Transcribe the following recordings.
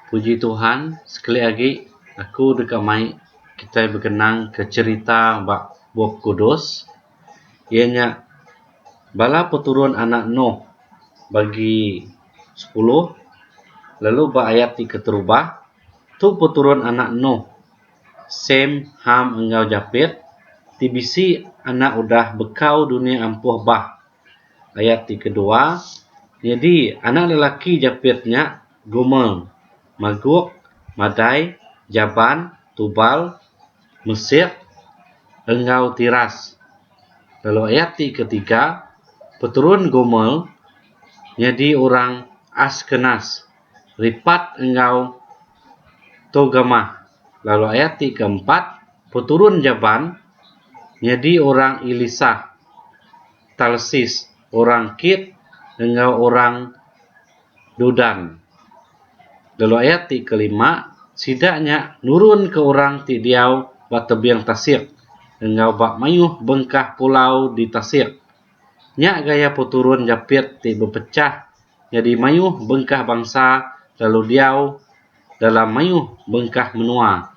Puji Tuhan sekali agi aku deka mai kitai bekenang ke cherita ba Bup Kudus iya nya bala peturun anak Noh bagi sepuluh lalu ba ayat ti keterubah tu peturun anak Noh Sem, Ham enggau Japet ti bisi anak udah bekau dunya ampuh bah. Ayat ti kedua, Nyadi anak lelaki Japet nya, Gomer, Magok, Madai, Jaban, Tubal, Mesek, enggau Tiras. Lalu ayat ti ketiga, Peterun Gomer nyadi orang Askenas. Ripat enggau Togamah lalu ayat ti keempat peturun Javan nyadi orang Elisa, Tarsis, orang Kir enggau orang Dudan. Lalu ayat ti kelima sida nya nurunka orang ti diau ba tebing tasik enggau ba mayuh bengkah pulau di tasik. Nya gaya peturun japit ti bepechah nyadi mayuh bengkah bansa lalu diau dalam mayuh bengkah menua.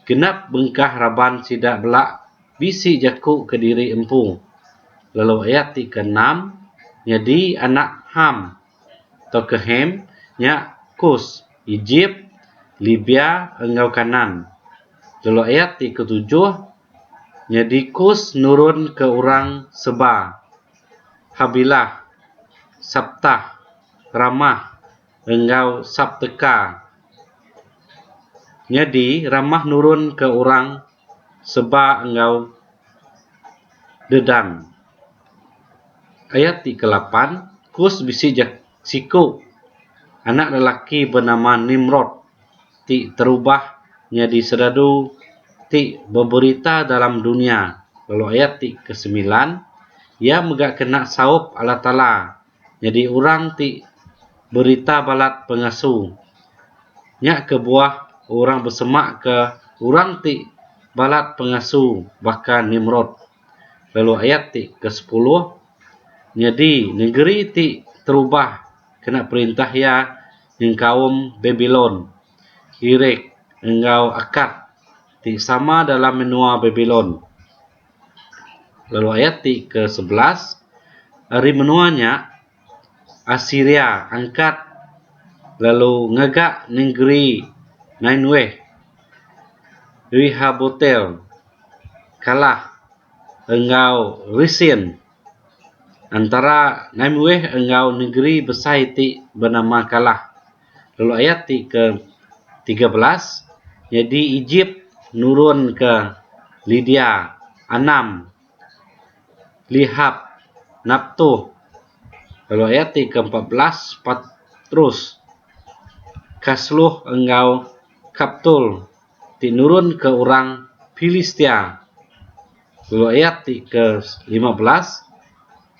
Genap bengkah raban sida bela bisi jaku kediri empu lalu ayat ti keenam nyadi anak Ham tauka Ham nya Kus, Ejip, Libya enggau Kanaan lalu ayat ti ketujuh Nyadi kus nurun ke orang seba, Habilah, Saptah, Ramah enggau Sapteka. Nyadi Ramah nurun ke orang seba enggau Dedan. Ayat ti ke lapan, kus bisi Siku, anak lelaki benama Nimrod ti terubah nyadi seradu ti beberita dalam dunya lalu ayat ti ke semilan, iya mega kena saup Allah Taala nyadi orang ti berita balat pengasu. Nya kebuah orang besemaka orang ti balat pengasu baka Nimrod. lalu ayat ti ke sepuluh nyadi negeri ti terubah kena perintah iya nyengkaum Babilon, Irek enggau Akad ti sama dalam menua Babilon. Lalu ayat ti ke sebelas ari menua nya Asiria angkat lalu ngaga nengeri Nineweh, Rehobotel, kalah enggau Resin. Entara Nineweh enggau nengeri besai ti benama Kalah lalu ayat ti ke tiga belas nyadi Ejip nurunka Lidia anam. lihap naptuh lalu ayat ti ke empat belas patrus kasluh enggau kaptul ti nurun ke orang pilistia lalu ayat ti ke lima belas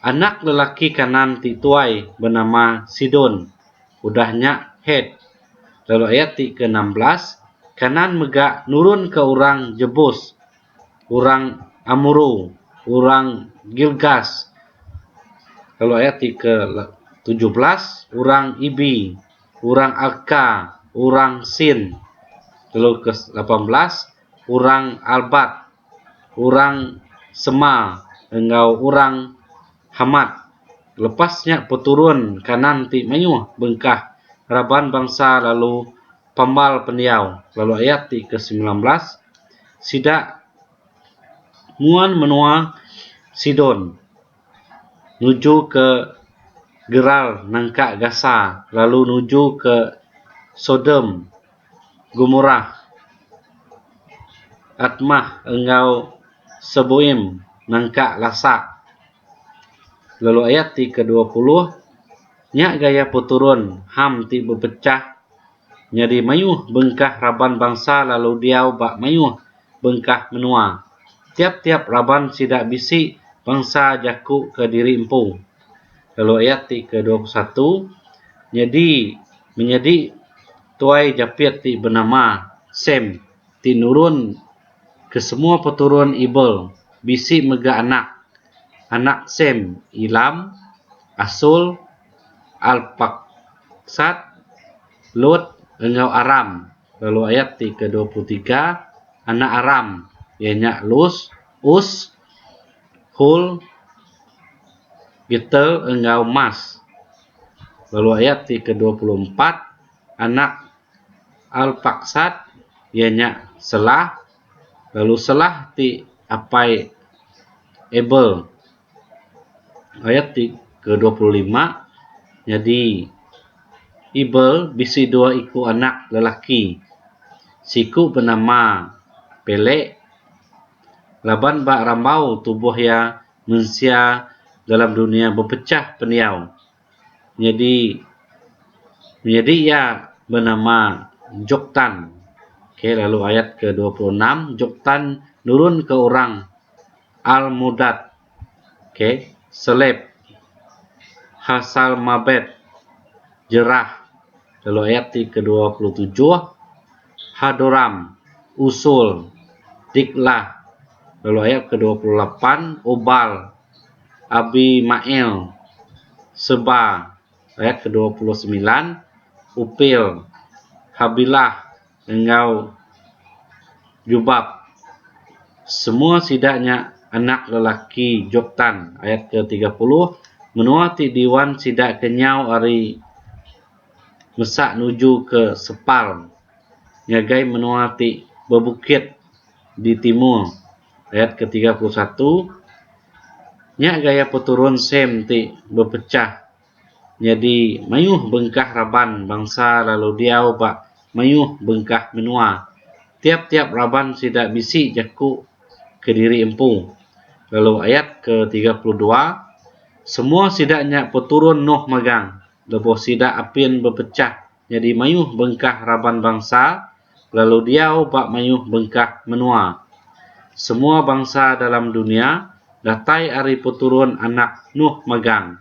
anak lelaki kanan ti tuai benama sidon udah nya het lalu ayat ti ke enam belas kanan mega nurun ke orang jebus orang Amoro, orang Girgas, lalu ayat ti ke tujuh belas orang Ibi, orang Arka, orang Sin, lalu ke lapan belas orang Arbat, orang Sema enggau orang Hamat. Lepas nya peturun Kanaan ti mayuh bengkah raban bangsa lalu Pemal pendiau lalu ayat ti ke semilan belas sida nguan menua Sidon nuju ke Gerar nangka Gasa lalu nuju ke Sodom Gomorah Atmah enggau Seboim nangka Lasak. lalu ayat ti ke dua puluh nya gaya peturun Ham ti bepechah nyadi mayuh bengkah raban bansa lalu diau ba mayuh bengkah menua tiap-tiap raban sida bisi bansa jaku ke diri empu lalu ayat ti ke dua puluh satu nyadi menyadi tuai japit ti benama Sem ti nurun Kesemua peturun Ebel bisi mega anak. Anak Sem, Ilam, Asur, Arpaksad, Lut, enggau Aram. Lalu ayat ti ke dua puluh tiga, Anak Aram, iya nya Lus, Us, Hul, Geter enggau Mas. Lalu ayat ti ke dua puluh empat, Anak Al-Faqsad iya nya selah lalu selah ti apai Abel ayat ti ke dua puluh lima nyadi Abel bisi dua iku anak lelaki siku benama Pelek laban ba rambau tubuh iya mensia dalam dunia bepechah pendiau. nyadi menyadi iya benama Jok Tan okay lalu ayat ke dua puluh enam Jok Tan nurun ke orang Almudad okay Selep Hasalmabet Jerah lalu ayat ti ke dua puluh tujuh Hadoram Usul Diklah lalu ayat ke dua puluh lapan Obal Abimael, Seba, ayat ke dua puluh semilan, Upil, Habilah enggau Jobab, semua sida nya anak lelaki Joktan, ayat ke tiga puluh, menua ti diwan sida ke nyau ari mesa nuju ke sepal ngagai menua ti bebukit di timur. Ayat ke tiga puluh satu Nya gaya peturun Sem ti bepechah nyadi mayuh bengkah raban bangsa lalu diau ba mayuh bengkah menua. Tiap-tiap raban sida bisi jaku kediri empu. Lalu ayat ke tiga puluh dua Semua sida nya peturun Noh magang lebuh sida apin bepechah. Nyadi mayuh bengkah raban bangsa lalu diau ba mayuh bengkah menua. Semua bangsa dalam dunya datai ari peturun anak Nuh megang.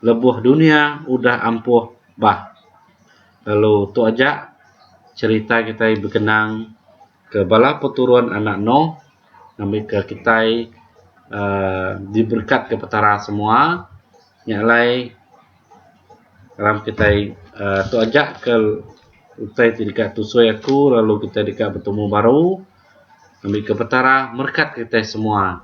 Lebuh dunya udah ampuh bah. Lalu tu aja cherita kitai bekenang ke bala peturun anak Nuh ngambika kitai uhh diberekatka Petara semua. Nya alai. Salam kitai uh, tu aja ke utai ti deka tusui aku lalu kitai deka betemu baru. Ngambi ke petara merkat kitai semua.